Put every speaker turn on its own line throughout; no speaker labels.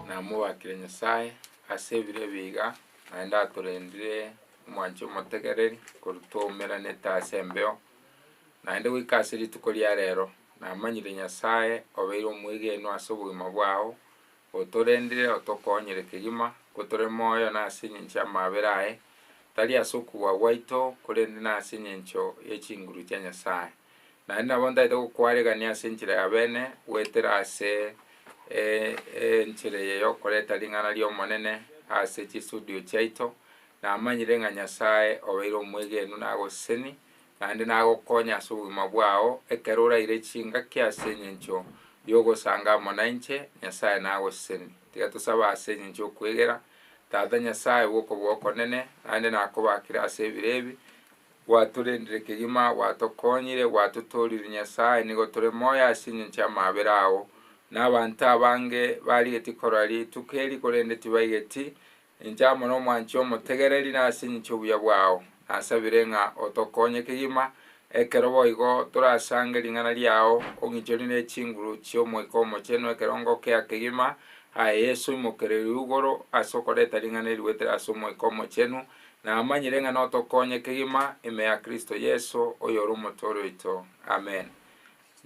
Namobwatire Nyasae ase ebire ebi iga, naende atorendire omwancho omotegereri korwa twaumeranete ase embeo, naende goika ase rituko ria rero, namanyire Nyasae obeire omwegenwa ase obogima bwao, otorendire otokonyire kegima, gotore moyo na ase engencho y'amabera aye, tari ase okobua gwaito, korende nase engencho ye chinguru chia Nyasae. Naende nabo ntaete gokwaregania ase enchera y'abeene, goetera ase enchera eye y'okoreta ring'ana ri'Omonene ase chisudio chiaito, namanyire ng'a Nyasae obeire omwegenu na agoseseni, naende nagokonye ase obogima bwao, ekero oraire chingaki ase engencho y'ogosanga amo nainche, Nyasae nagoseseni. Tiga tosabe ase engencho y'okwegera, Tata Nyasae bw'okobua okonene, naende nakobaakire ase ebiro ebi, Gwatorendire kegima, gwatokonyire, gwatotoorire Nyasae, nigo tore moyo ase engencho y'amaabera ao. Na abanto abange barigetie korora rituko eri, korende tibaigeti. Inche amo nomwanchwa omotegereri, na ase engencho y'obuya bwao, nasabire ng'a otokonye kegima, ekero boigo torasange ring'ana riao, ong'inchori ne chinguru chi'Omoika Omochenu ekero ngokea kegima, Aye Yeso, imokererio igoro ase okoreta ring'ana eri goetera ase Omoika Omochenu, Namanyire ng'a notokonye kegima ime ya Kristo Yeso, oyore Omotooria oito. Amen.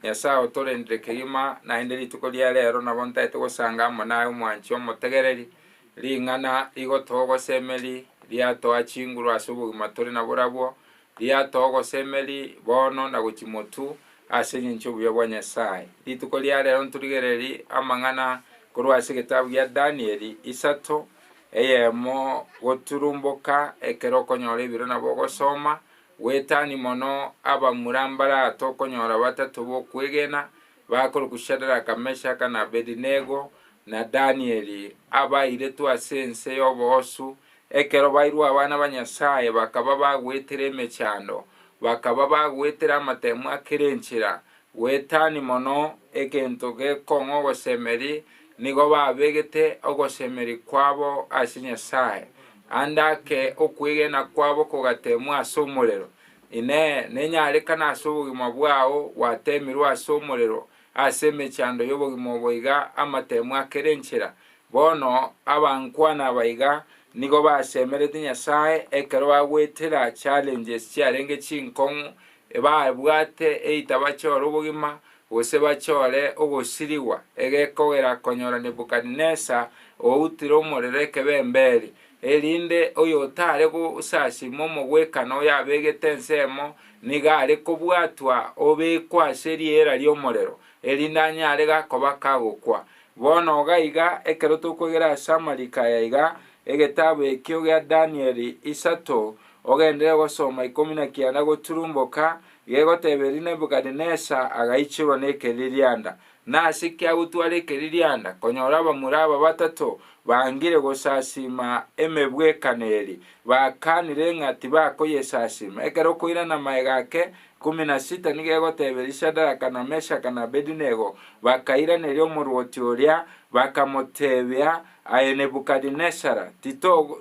Nyasae otorendire kegima, naende rituko ria reero nabo ntaete gosanga amo naye omwanchia omotegereri, ring'ana rigotoa ogosemeri, riatoa chinguru ase obogima tore nabwo rabwo, riatoa ogosemeri bono na gochimotu ase engencho y'obuya bwa Nyasae. Rituko ria reero ntorigereri amang'ana korwa ase egetabu gia Danieli isato, Eyemo, goturumboka ekero okonyora ebiro nabo ogosoma, gwetani mono abamura mbarate okonyora batato bokwegena bakorokwa Shadaraka, Meshaka, na Abedinego, na Danieli, abairetwe ase ense y'oboosu, ekero bairwe abana ba Nyasae bakaba bagwetire emechando, bakaba bagwetire amatemu a kera enchera, Goetani mono egento gekong'u ogosemeri nigo babegete ogosemeri kwabo ase Nyasae, ande ake okwegena kwabo kogatemwa ase omorero. Inee! Nenyarekana ase obogima bwao gwatemirwe ase omorero ase emechando y'obogima oboiga amatemo akere enchera? Bono abankwana abaiga nigo basemerete Nyasae ekero bagwetera challenges chiarenge chinkong'u Ebabwate eita bachore obogima, gose bachore ogosirigwa, egekogera konyora Nebukadinesar outire omorero ekebe emberi, erinde oyotare gosasima omogwekano oyabegete ensemo nigo are kobwatwa obekwa ase riera ri'omorero, erinde anyare gakoba kagokwa. Bono gaiga, ekero tokwegera ase amariko aya iga, egetabu ekio gia Danieli isato, Ogenderere gosoma ikomi na kianda goturumboka gegoteba eri Nebukadinesza agaichorwa nekeririanda. Nase ki agotwara ekeririanda? Konyora abamura aba batato bangire gosasiima emebwekano eri, bakanire ng'a tibakoyesasiima. Ekero okoirana amaega ake ikomi na sita nigo egoteba eri Shadaraka na Meshaka na Abedinego bakairaneria omorwoti oria, bakamotebia, Aye Nebukadinesza,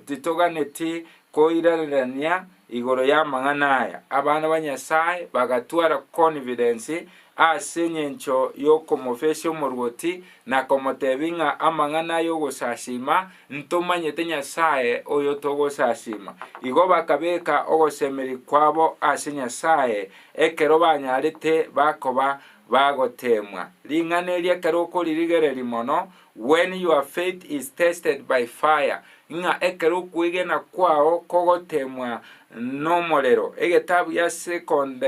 titoganeti Koirarerania igoro y'amang'ana aya, abana ba Nyasae bagatwara confidence ase engencho y'okomofesia omorwoti na komotebia ng'a amang'ana ay'ogosasiima, Ntomanyete Nyasae oyo togosasiima. Igo bakabeka ogosemeria kwabo ase Nyasae ekero banyarete bakoba bagoteemwa. Ring'ana eri ekero okoririgereria mono, When your faith is tested by fire, ng'a ekero okwegena kwao kogotemwa nomorero. Egetabu gia Second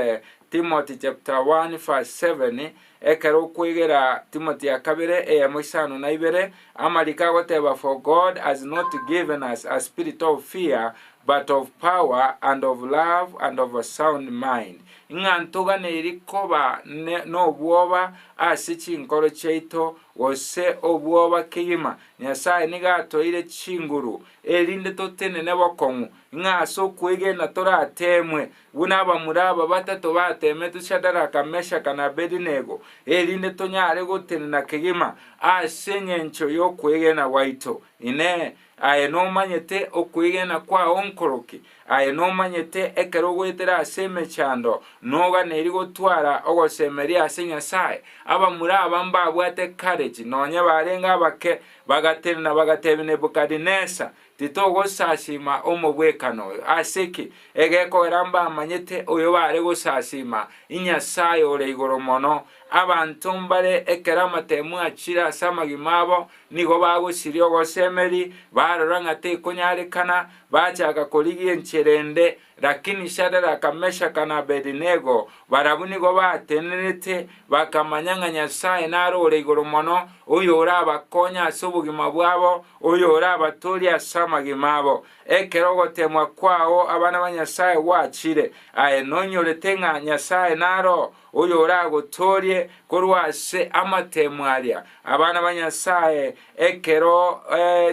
Timothy chapter 1 verse 7, Ekero okwegera, Timothy ya kabere, eyemo isano na ibere, amariko agoteba For God has not given us a spirit of fear, but of power, and of love, and of a sound mind. Ng'a ntoganeiri koba ne- nobwoba ase chinkoro chiaito Gose obwoba kegima, Nyasae nigo atoire chinguru, erinde totenene bokong'u, ng'a ase okwegena torateemwe, buna abamura aba batato bateemetwe Shadaraka, Meshaka, na Abedinego, erinde tonyare gotenena kegima ase engencho y'okwegena gwaito. Inee! Aye nomanyete okwegena kwao nkoroki, aye nomanyete ekero ogoetera ase emechando, noganeiri gotwara ogosemeria ase Nyasae. Abamura aba mbabwate courage, nonye barenge abake, bagatenena bagatebia Nebukadinesa, Titogosasiima omobwekano oyo. Ase ki? Egekogera mbamanyete oyo bare gosasiima, Inyasae Ore Igoro Mono, Abanto mbare ekero amatemu achire ase amagima abo, nigo bagosiria ogosemeri, barora ng'a tekonyarekana, bachaka korigia enchera ende. Lakini Shadaraka, Meshaka, na Abedinego, barabwo nigo baatenerete, bakamanya ng'a Nyasae nare ore igoro mono, oyorabakonye ase obogima bwabo, oyorabatorie ase amagima abo. Ekero ogoteemwa kwao abana ba Nyasae gwachire, aye nonyorete ng'a Nyasae naro oyoragotoorie korwa ase amatemo aria, abana ba Nyasae, ekero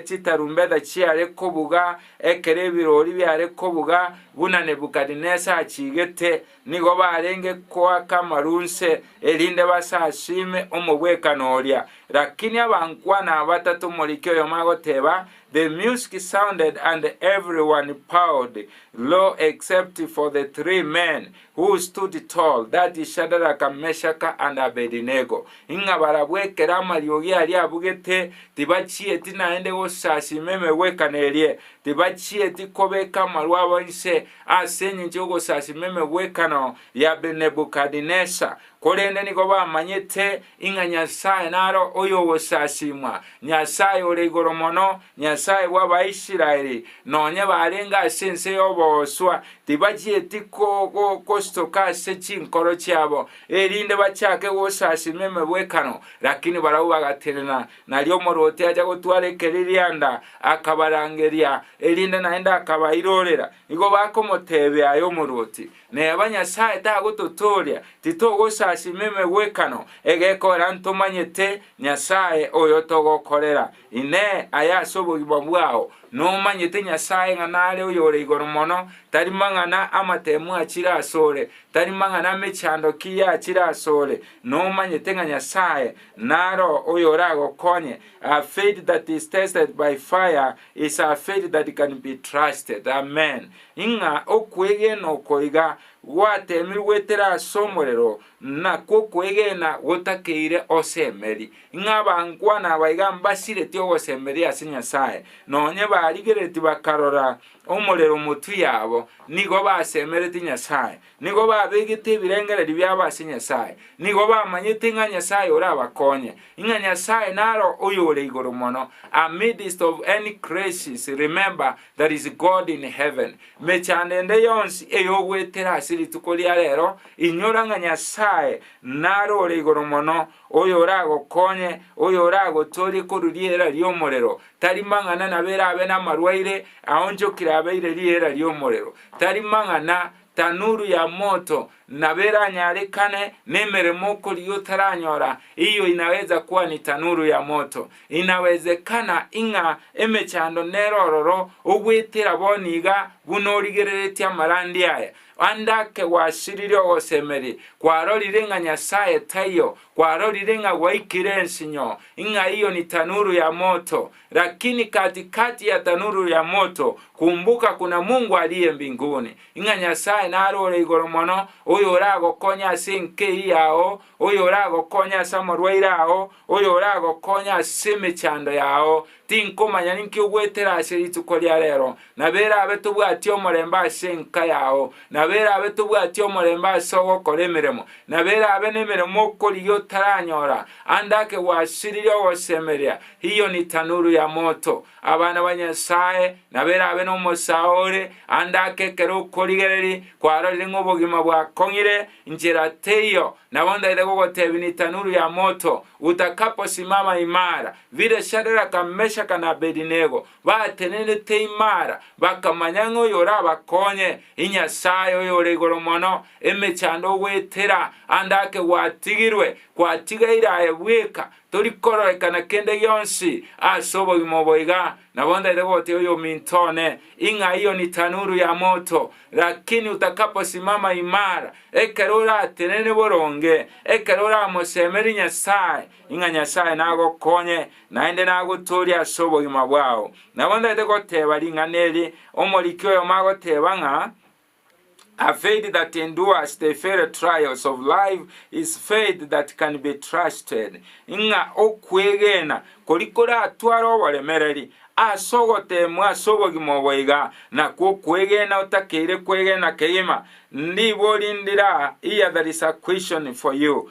chitarumbeta chiare kobuga, ekero ebiroori biare kobuga, buna Nebukadinesa achiigete, nigo barenge koaka amaru nse, erinde basasiime omobwekano oria. Lakini abankwana abatato omoriki oyomo agoteba, The music sounded and every one bowed low except for the three men Who stood tall, that is Shadaraka, Meshaka, and Abedinego, ing'a barabwo ekero amariogi aria abugete, tibachieti naende gosasima emegwekano erie, tibachieti kobeka amaru abo inse, ase engencho y'ogosasima emegwekano ya Nebukadinesar, Korende nigo bamanyete ing'a Nyasae naro oyogosasimwa, Nyasae ore igoro mono, Nyasae bw'Abaisraeli, nonye barenge ase ense y'obooswa, tibachieti gosutoka ase chinkoro chiabo, erinde bachake gosasima emegwekano, lakini barabwo bagatenena. Nario omorwoti acha gotwara ekeri rianda, akabarangeria, erinde naende akabairorera. Igo bakomotebia, Aye omorwoti, Neba Nyasae tagototooria, titogosasima emegwekano egekorera ntomanyete Nyasae oyo togokorera. Inee! Aya ase obogima bwao? Nomanyete Nyasae ng'a nare Oyore Igoro Mono? Tari mang'ana amatemu achire asore? Tari mang'ana amechando ki yachire asore? Nomanyete ng'a Nyasae naro oyoragokonye? A faith that is tested by fire is a faith that can be trusted. Amen. Ing'a okwegena oko iga gwatemirwe goetera ase omorero, na kw'okwegena gotakeire osemeri, ing'a abankwana aba iga mbasiretie ogosemeria ase Nyasae, nonye barigereti bakarora omorero motwe yabo, nigo basemereti Nyasae, Nigo babegete ebirengererio biabo ase Nyasae, nigo bamanyete ng'a Nyasae orabakonye, ng'a Nyasae naro oyore igoro mono, amidst of any crisis remember there is God in heaven. Mechando ende yonsi eyogoetera ase rituko ria rero, inyora ng'a Nyasae naro ore igoro mono, oyoragokonye, oyoragotorie korwa riera ri'omorero, tari mang'ana nabo erabe namarwaire, aonchokire abeire riera ri'omorero, tari mang'ana, tanuru ya moto, nabo eranyarekane nemeremo okorigia otaranyora, eyio inaweza kuwa ni tanuru ya moto. Inawezekana ing'a emechando nere ororo ogwetera bono iga buna origereretie amarandi aya. Ande ake gwasirire ogosemeria, kwarorire ng'a Nyasaye taiyo, kwarorire ng'a gwaikire ensinyo, ing'a eyio ni tanuru ya moto, Lakini katikati ya tanuru ya moto, kumbuka kuna Mungu aliye mbinguni, ing'a Nyasae nare ore igoro mono, oyo oragokonye ase enkei yao, oyo oragokonye ase amorwaire ao, oyo oragokonye ase emechando yao. Tinkomanya ninki ogwetera ase rituko ria rero, Nabo erabe tobwati omorembe ase enka yao, nabo erabe tobwati omorembe ase ogokora emeremo, nabo erabe nemeremo okorigia otaranyora, ande ake gwasiririe ogosemeria, hiyo ni tanuru ya moto. Abana ba Nyasae, nabo erabe nomosao ore, ande ake ekero okorigereria kwarorire ng'a obogima bwakong'ire, nchera teiyo, nabo ntaete gogotebia ni tanuru ya moto, utakaposimama imara, vile Shadraka, Meshaka, na Abedinego, Baatenenete imara, bakamanya ng'a oyorabakonye inyasae Oyore Igoro Mono, emechando ogoetera ande ake gwatigirwe, gwatigaire aye bweka, tori kororekana kende gionsi ase obogima obo iga. Nabo ntaete gogoteebia oyominto one, Ing'a iyo ni tanuru ya moto, lakini utakaposimama imara, ekero oratenene boronge, ekero oramosemerie Nyasae, Ing'a Nyasae nagokonye, naende nagotoorie ase obogima bwao. Nabo ntaete goteeba ring'ana eri, omoriki oyomo agoteeba ng'a, A faith that endures the very trials of life is faith that can be trusted, ng'a okwegena kori koratware oboremereri ase ogoteemwa ase obogima obo iga, nakwo okwegena otakeire kwegena kegima, nigo rindira, here there is a question for you,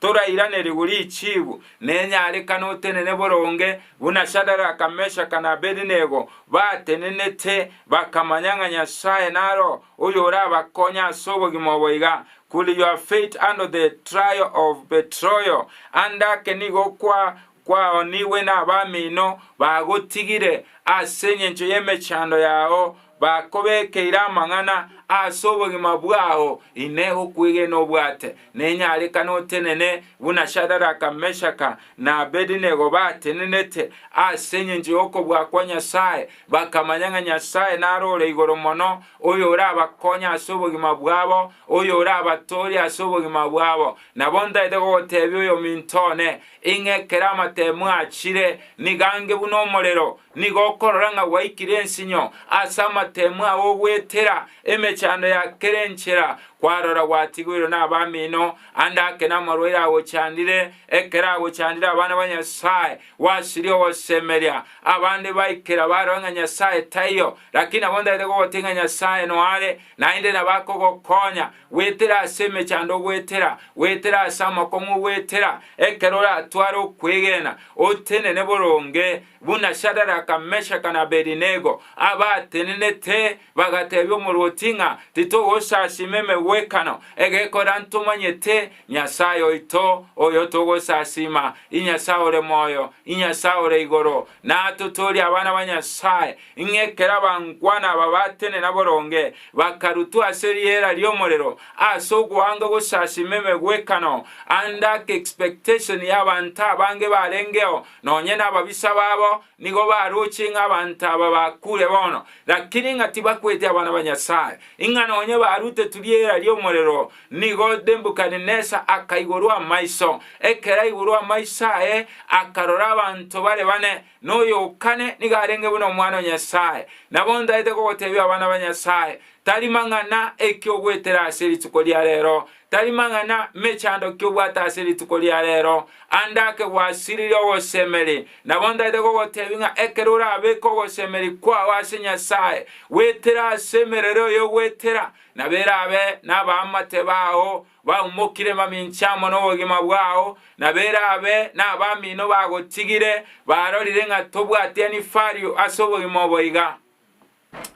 torairanerigwe richiigu nenyarekano otenene boronge, buna Shadaraka, Meshaka, na Abedinego batenenete, bakamanya ng'a Nyasae naro oyorabakonye ase obogima obo iga, Could your faith handle the trial of betroyal? Ande ake nigo kwa Kwaonigwe nabamino bagotigire ase engencho y'emechando yao, bakobekeire amang'ana ase obogima bwao, Inee, okwegena obwate nenyarekane otenene buna Shadaraka, Meshaka, na Abedinego batenenete ase engencho y'okobua kwa Nyasae, bakamanya ng'a Nyasae nare ore igoro mono, oyorabakonye ase obogima bwabo, oyorabatoorie ase obogima bwabo? Nabo ntaete gogotebia oyominto one, Ing'e ekero amatemu achire, nigo ange buna omorero, nigo okorora ng'a gwaikire ensinyo ase amatemu ao ogoetera emechando ya kera enchera, kwarora gwatigoirwe nabamino, ande ake namarwaire agochandire, ekero agochandire abana ba Nyasae, gwasiria ogosemeria. Abande baikera barora ng'a Nyasae taiyo, lakini nabo ntaete kogotebi ng'a Nyasae noare, naende nabo akogokonya, Goetera ase emechando ogoetera, goetera ase amakong'u ogoetera, ekero oratware okwegena, otenene boronge, buna Shadaraka, Meshaka, na Abedinego, abatenenete, bagatebia omorwoti ng'a, Titogosasima emegwekano egekora ntomanyete, Nyasae oito, oyo togosasima, Inyasae ore moyo, Inyasae ore igoro, nato tori abana ba Nyasae, ng'a ekero abankwana aba batenena boronge, bakarutwa ase riera ri'omorero, ase ogoanga gosasima emegwekano, ande ake expectation y'abanto abange barengeo, nonye nababisa babo, Nigo baroche ng'a abanto aba bakure bono, lakini ng'a tibakwete abana ba Nyasae, ing'a nonye barutetwe riera ri'omorero. Nigo Nebukadinesar akaigorwa amaiso. Ekero aigorwe amaiso aye, akarora abanto bare bane, na oyo o kane nigo arenge buna omwana o Nyasae. Nabo ntaete kogoteebia abana ba Nyasae, tari mang'ana eki'ogwetera ase rituko ria reero, tari mang'ana mechando kiobwate ase rituko ria rero, ande ake gwasiririe ogosemeri. Nabo ntaete kogotebi ng'a ekero orabeke ogosemeri kwao ase Nyasae, gwetera ase emerero eye ogwetera, nabo erabe nabaamate bao baumokire mamincha amo nobogima bwao, nabo erabe nabamino bagotigire, barorire ng'a tobwati enifario ase obogima obo iga.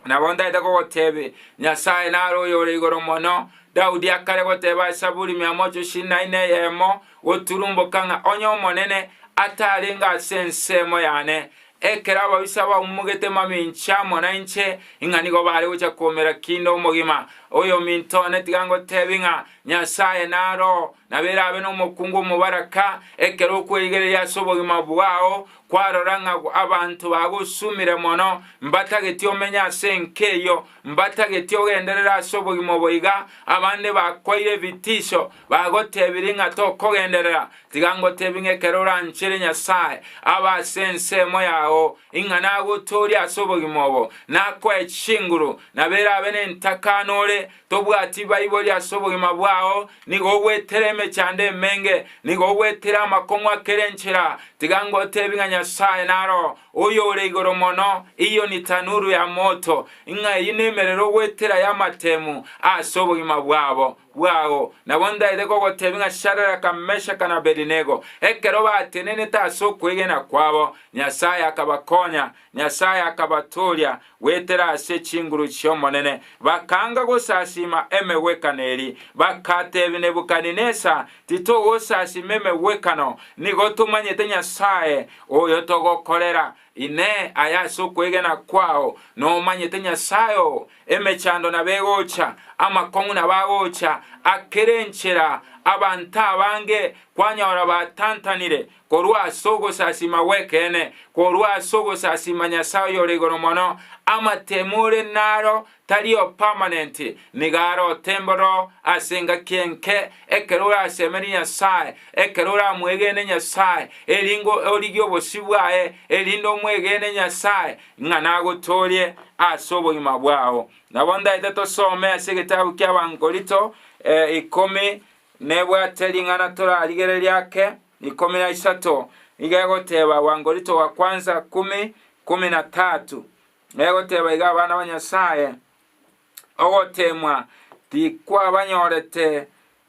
Nabo ntaete kogoteebia, Nyasae nare oyore igoro mono. Daudi akare goteeba ase Zaburi mia mochie na ine eyemo, Goturumboka ng'a onye Omonene atarenge ase ensemo yane, ekero ababisa baumogete mamincha amo nainche, ing'a nigo bare gochia koumera kinde omogima. Oyominto one tiga ngoteebie ng'a Nyasae naro, nabo erabe nomokungu omobaraka, ekero okwerigereria ase obogima bwao, Kwarora ng'a abanto bagosumire mono, mbatageti omenye ase enka eyio, mbatageti ogenderere ase obogima obo iga, abande bakwaire ebitisho, bagotebirie ng'a tokogenderera, tiga ngotebie ng'a ekero oranchere Nyasae abe ase ensemo yao, ing'ana agotoorie ase obogima obo, nakoe chinguru, nabo erabe nentakano ore tobwati baibori ase obogima bwao, Nigo ogwetera emechando emenge, nigo ogwetera amakong'u a kera enchera, tiga ngotebi ng'a Nyasae naro Oyore Igoro Mono, eyio ni tanuru ya moto, ng'a eyio nemerero ogwetera y'amatemu ase obogima bwabo bwao. Nabo ndaete kogotebi ng'a Shadaraka, Meshaka, na Abedinego, ekero batenenete ase okwegena kwabo, Nyasae akabakonya, Nyasae akabatooria goetera ase chinguru chi'Omonene, bakanga gosasiima emegwekano eria. Bakateebia Nebukadinesa, Titogosasiima emegwekano, nigo tomanyete Nyasae oyo togokorera. Inee! Aye ase okwegena kwao nomanyete Nyasae oo? Emechando nabo egocha, amakong'u nabo agocha, akera enchera, abanto abange kwanyora batantanire, korwa ase ogosasiima gw'ekeene, korwa ase ogosasiima Nyasae Oyore Igoro Mono, amatemo ore naro tari o permanent, nigo are otemba oroo ase engaki enke, ekero orasemerie Nyasae, ekero oramwegene Nyasae, eringo origie obosio bwaye, erinde omwegene Nyasae ng'a nagotoorie ase obogima bwao. Nabo ndaete tosome ase egetabu ki'Abankorinto ikomi Nebwate ring'ana torarigererie ake, ikomi na isato nigo egoteba Wangorito wa kwanza kumi, kumi na tatu. Egoteba iga abana ba Nyasaye, ogoteemwa tikwabanyorete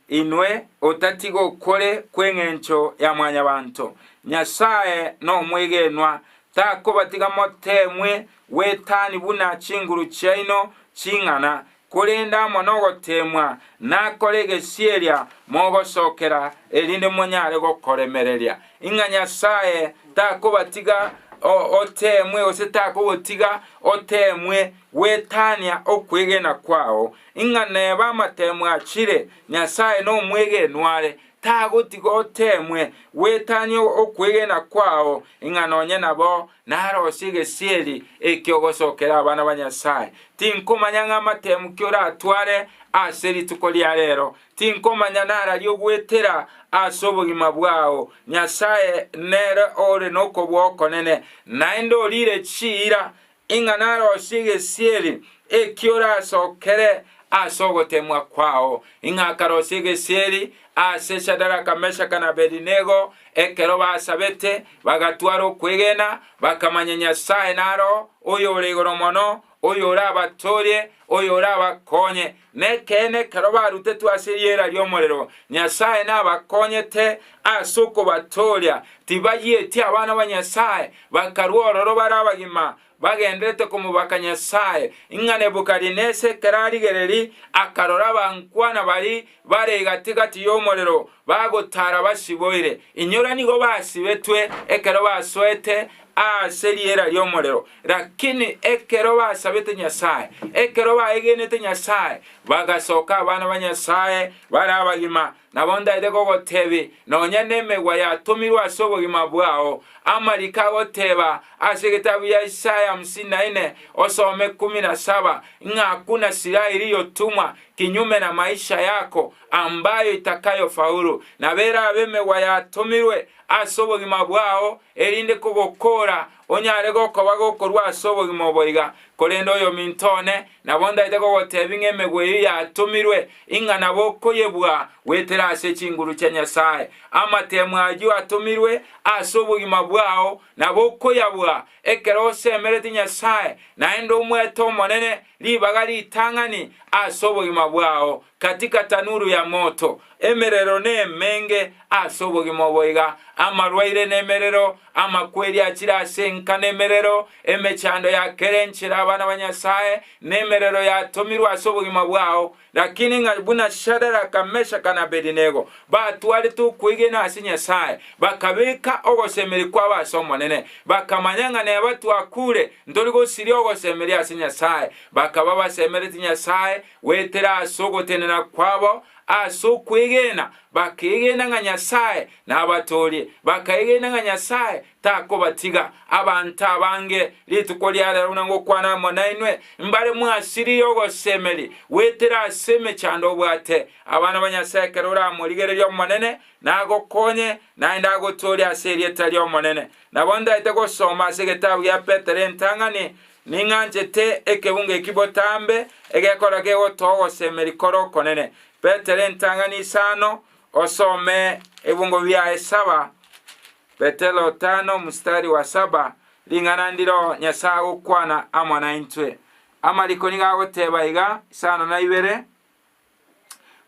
inwe otati gokore kw'engencho ya Mwanyabanto. Nyasaye nomwegenwa, takobatiga moteemwe gwetani buna chinguru chiaino ching'ana, Korende amo nogoteemwa nakore egesieria mogosokera erinde monyare gokoremereria, ing'a Nyasae takobatiga oteemwe gose takogotiga oteemwe gwetania okwegena kwao. Ing'a neba amateemo achire, Nyasae nomwegenwa are, tagotiga oteemwe gwetania okwegena kwao, ing'a nonye nabo Narosie egesieri eke ogosokera abana ba Nyasae. Tinkomanya ng'a amatemu ki oratware ase rituko ria reero. Tinkomanya nararia ogwetera ase obogima bwao. Nyasae nere ore nokobua okonene, naende oriire chiira ing'a narosie egesieri eki orasokere ase ogotemwa kwao. Ing'a akarosia egesieri Ase Shadaraka, Meshaka, na Abedinego, ekero basabete, bagatwara okwegena, bakamanya Nyasae naro Oyore Igoro Mono, oyorabatoorie, oyorabakonye. Nekeene, ekero barutetwe ase eriera ri'omorero, Nyasae nabakonyete ase okobatooria. Tibayieti abana ba Nyasae, bakarwa ororo bare abagima, bagenderete komobaka Nyasae, ng'a Nebukadineseri akarora abankwana baria bare gati-gati y'omorero bagotaara basiboire, inyora nigo basibetwe ekero basoete ase riera ri'omorero, lakini ekero basabete Nyasae, ekero baegenete Nyasae, bagasoka abana ba Nyasae bare abagima, Nabo ntaete kogotebi nonya nemegwa yatomirwe ase obogima bwao, amariko agoteba ase egetabu gia Isaya hamsini na ine osome kumi na saba, ng'a hakuna silaha iliyotumwa kinyume na maisha yako ambayo itakayofaulu. Nabo erabe emegwa yatomirwe ase obogima bwao erinde kogokoora Onye are gokoba gokorwa ase obogima obo iga, korende oyominto one nabo ntaete kogoteebia ng'a emegwa eyio yatomirwe, ing'ana bokoyebua goetera ase chinguru chia Nyasae. Amateemu ayio atomirwe ase obogima bwao nabo okoyabua ekero osemeretie Nyasae naende omwete Omonene, Ribaga ritang'ani ase obogima bwao katika tanuru ya moto, emerero nemenge ase obogima obo iga, amarwaire nemerero, amakweri achire ase enka nemerero, emechando ya kera enchera abana ba Nyasae nemerero yatomirwe ase obogima bwao, Lakini ng'a buna Shadaraka, Meshaka, na Abedinego batwarete okwegena ase Nyasae, bakabeka ogosemeria kwabo ase Omonene, bakamanya ng'a neba twakure, ntori gosiria ogosemeria ase Nyasae, bakaba basemereti Nyasae goetera ase ogotenena kwabo ase okwegena, bakeegena ng'a Nyasae nabatoorie, bakaegena ng'a Nyasae takobatiga. Abanto abange rituko ria reero buna ngokwana amo nainwe, mbare mwasirire ogosemeria goetera ase emechando obwate. Abana ba Nyasae ekero oramorigererie Omonene, nagokonye, naende agotoorie ase erieta ri'Omonene. Nabo ndaete gosoma ase egetabu gia Petero entang'ani, Ning'anchete ekeunga eki botambe, egekora kegotoa ogosemeria kore okonene. Petero entang'ani isano, osome ebiongo biaye saba Petero tano mstari wa saba, Ring'ana ndiro Nyasae agokwana amo naintwe. Amariko nigo agoteba iga, Isano na ibere,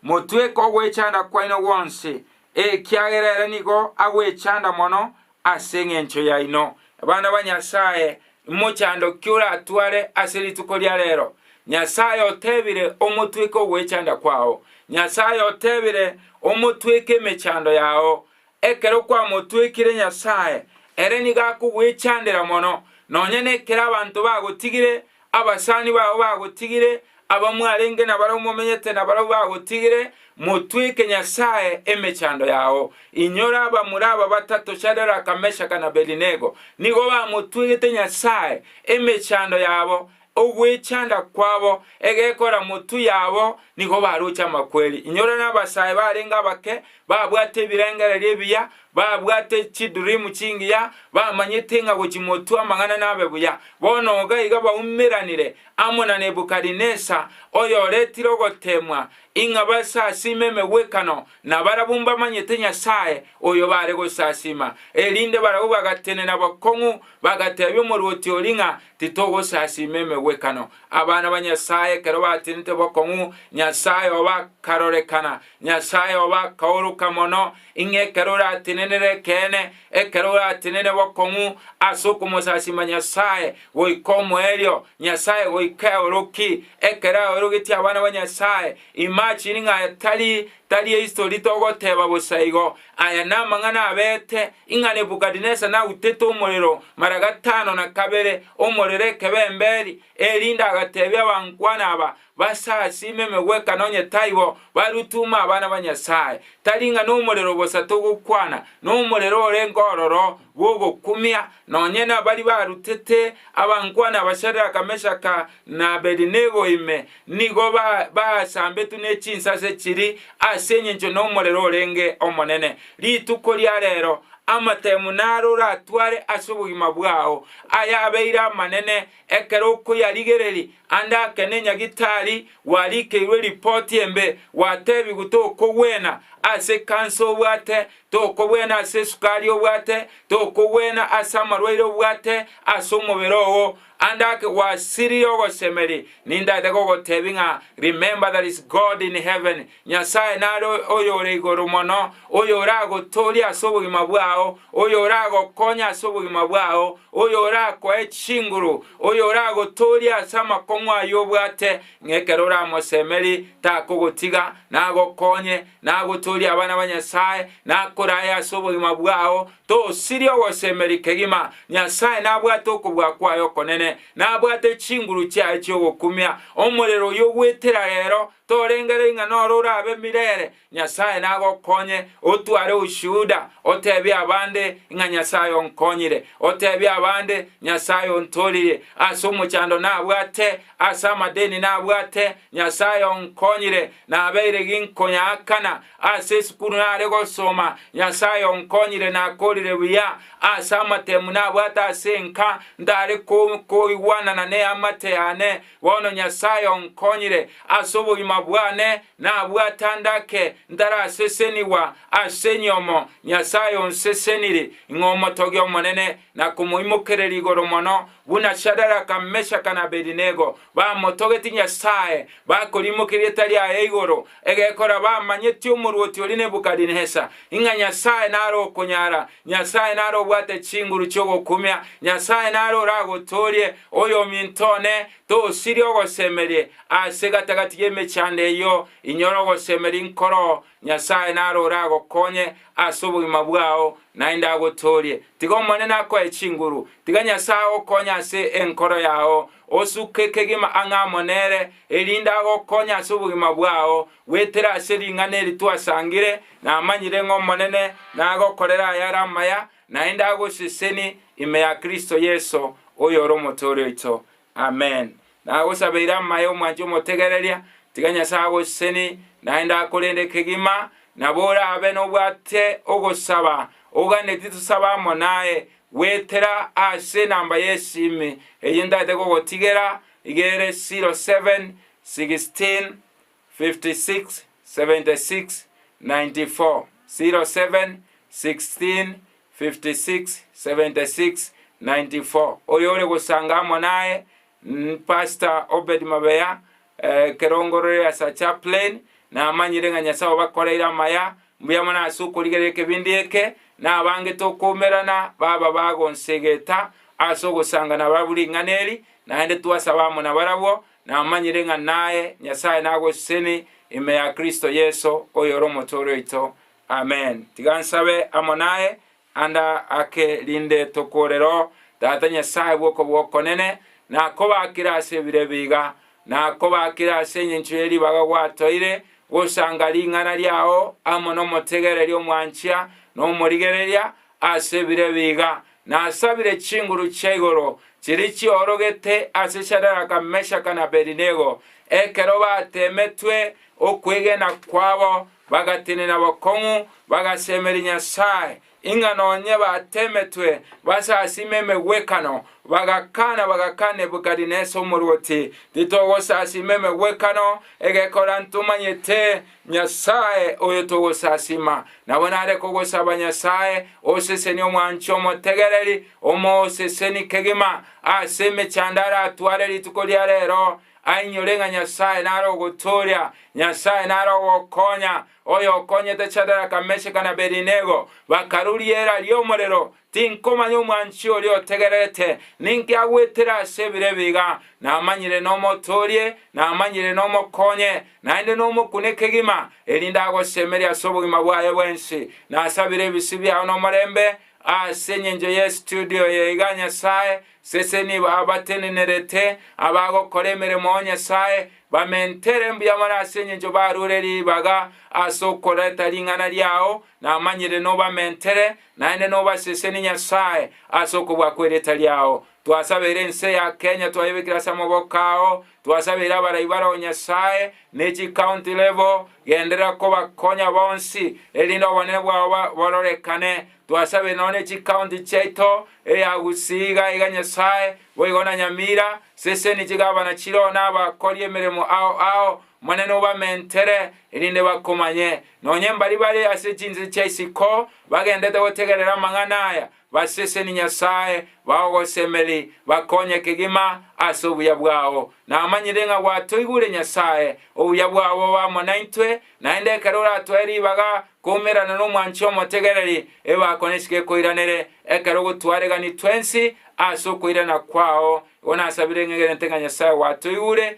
Motweke ogwechanda kwaino gwonsi, ekiagera ere nigo agwechanda mono ase engencho yaino. Abana ba Nyasae, imochando ki oratware ase rituko ria rero? Nyasae otebire omotweke ogwechanda kwao. Nyasae otebire omotweke emechando yao. Ekero kwamotwekire Nyasae, ere nigo akogwechandera mono, nonya nekero abanto bagotigire, abasani bao bagotigire, aba mwarenge nabarabwo momenyete nabarabwo bagotigire, motweke Nyasae emechando yao. Inyora abamura aba batato Shadaraka, Meshaka, na Abedinego, nigo bamotwegete Nyasae emechando yabo, Ogwechanda kwabo, egekora motu yabo, nigo baroche amakweri. Inyora nabasae barenge abake, babwate ebirengererio ebiya, babwate chidream chingiya, bamanyete ng'a gochi motu amang'ana nabe buya. Bono iga iga baumeranire amo na Nebukadinesar, oyoretire ogoteemwa, ing'a basasiime emegwekano nabarabwo mbamanyete Nyasae oyo baare gosasiima. Erinde barabwo bagatenena bokong'u, bagateebia omorwoti oria ng'a Titogosasiima emegwekano. Abana ba Nyasae ekero batenete bokong'u, Nyasae obo akarorekana. Nyasae obo akaoroka mono, ing'e ekero oratenenere ekeene, ekero oratenene bokong'u ase okomosasiima Nyasae, goika omoerio, Nyasae goika eoroki. Ekero aorogetie abana ba Nyasae, imagine ng'a aya tari tari ehistory togoteba bosa igo, aya namang'ana abete Ing'a Nebukadinesa nautete omorero mara gatano na kabere, omorero ekebemberi, erinde agateebia abankwana aba, Basasiime emegweka nonye taibo, barutume abana ba Nyasae. Tari ng'a nomorero bosa togokwana, nomorero orenge ororo bw'ogokumia, nonye nabaria barutete abankwana aba Shadraka, Meshaka, na Abedinego ime, nigo baasambetwe ne chinsase chiri ase engencho nomorero orenge omonene. Rituko ria reero amatemu naro oratware ase obogima bwao, ayabeire amanene ekero okoyarigereria, ande ake ne nyagitari warikeirwe ripoti embe, gwatebigu tokogwena ase ekansa obwate, tokogwena ase esukari obwate, tokogwena ase amarwaire obwate ase omobere oo, And ake gwasirie ogosemeria, nindaete gogoteebia ng'a remember there is God in heaven, Nyasae nare oyore igoro mono, oyoragotoorie ase obogima bwao, oyoragokonye ase obogima bwao, oyorakoe chinguru, oyoragotoorie ase amakong'u ayio obwate, ng'a ekero oramosemerie takogotiga, nagokonye, nagotoorie abana ba Nyasae, nakorae ase obogima bwao, Tosirie ogosemeria kegima. Nyasae nabwate okobua kwaye okonene, nabwate chinguru chiaye chi'ogokumia. Omorero oyio ogwetera rero, torengereria ng'a noro orabe mirere. Nyasae nagokonye otware ushuhuda, otebie abande ng'a Nyasae onkonyire, otebie abande Nyasae ontoririe ase omochando nabwate, ase amadeni nabwate, Nyasae onkonyire, nabeire ginkonyaakana Ase esukuru nare gosoma, Nyasae onkonyire nakorire buya ase amatemu nabwate ase enka, ntare koigwanana neamate yane. Bono Nyasae onkonyire ase obogima bwane nabwate andake ntarasesenigwa ase enyomo. Nyasae onseseniri ng'a omotogia omonene na komoimokereri igoro mono, buna Shadaraka, Meshaka na Abedinego, Bamotogeti Nyasae, bakorimokia rieta riaye igoro egekora bamanyeti omorwoti oria Nebukadinesar, ing'a Nyasae nare okonyara, Nyasae nare obwate chinguru chi'ogokumia, Nyasae nare oragotoorie, oyominto one, tosirie ogosemerie, ase gati-gati y'emechando eyio inyore ogosemeria inkoro Nyasae narore agokonye ase obogima bwao, naende agotoorie. Tiga Omonene akoe chinguru. Tiga Nyasae agokonye ase enkoro yao. Osuke kegima ang'e amo nere, erinde agokonye ase obogima bwao, goetera ase ring'ana eri twasangire, Namanyire ng'Omonene nagokorere ayare amaya, naende agoseseni ime ya Kristo Yeso, oyore Omotooria oito. Amen. Nagosabeire amaya omwanche omotegereria, tiga Nyasae agoseseni naende akorende kegima, nabo orabe nobwate ogosaba oganetie tosabe amo naye, goetera ase enamba y'esimi eyio ntagete gogotigera, iga ere 0716 567694 Oyo ore gosanga amo naye Pastor Obed Mabeya ekero ongororire ase chaplain namanyire ng'a Nyasae obakoreire amaya mbuya mono ase okorigereria ekebindi eke na abange tokoumerana baba bagonsegeta ase ogosanga nabarabwo ring'ana eri naende twasaba amo nabarabwo Namanyire ng'a naye Nyasae nagoseseni ime ya Kristo Yeso, oyore omotore oito. Amen. Tiga nsabe amo naye anda ake rinde tokore Roho, Tata Nyasae bw'okobokonene, nakobaakire ase ebire ebiiga, nakobaakire ase engencho ye ribaga gwatoire, gosanga ring'ana riao amo nomotegereria omwanchia nomorigereria, Ase bire biga nasabire chinguru chia igoro chiria chiorogete ase Shadaraka, Meshaka, na Abedinego, ekero bateemetwe okwegena kwabo, bagatenena bokong'u, bagasemeria Nyasae, ing'a nonye bateemetwe base asima emegwekano, bagakana, bagakana Nebukadinesa omorwoti, Titogosasima emegwekano egekora ntomanyete, Nyasae oyo togosasima, nabo nare kogosaba Nyasae osesenie omwanchi omotegereri, omooseseni kegima ase emechando aratware rituko ria reero, ainyore ng'a Nyasae nare ogotooria, Nyasae nare ogokonya, oyokonyete Shadaraka, Meshaka, na Abedinego, bakaruria eira ri'omorero Tinkomanya omwanchi oria otegererete ninki agwetire ase ebiro ebi iga. Namanyire nomotoorie, namanyire nomokonye, naende nomokune kegima, erinde agosemerie ase obogima bwaye bwensi. Nasabire ebisi biao nomorembe ase engencho ye studio eye iga, Nyasae, sese nibo abatenenerete, abagokora emeremo, O Nyasae, bamentere mbuya mono ase engencho baruore ribaga ase okoreta ring'ana riao, namanyire nobamentere, Naende nobasesenie Nyasae ase okobua kwerita riao. Twasabeire ense ya Kenya twayebekire ase amaboko ao. Twasabeire abarai bare o Nyasae ne chi county level genderera kobakonya bonsi erinde obonene bwao bororekane. Twasabeire nonya ne chi county chiaito eya Gusii iga iga Nyasae boigo na Nyamira seseni chigavana chiroo na abakori emeremo ao ao Omonene obamentere, erinde bakomanye, nonye mbaria bare ase chinse chia isiko bagendete gotegerera amang'ana aya, baseseni Nyasae, bao ogosemeri, bakonye kegima ase obuya bwao. Namanyire ng'a gwatoigure, Nyasae, obuya bwao bobe amo naintwe, naende ekero oratoe ribaga koumerana nomwanchi omotegereri, ebako nesike ekoiranere, ekero gotwareganitwe ensi ase okoirana kwao. Igo nasabire ng'egerente ng'a Nyasae gwatoigure,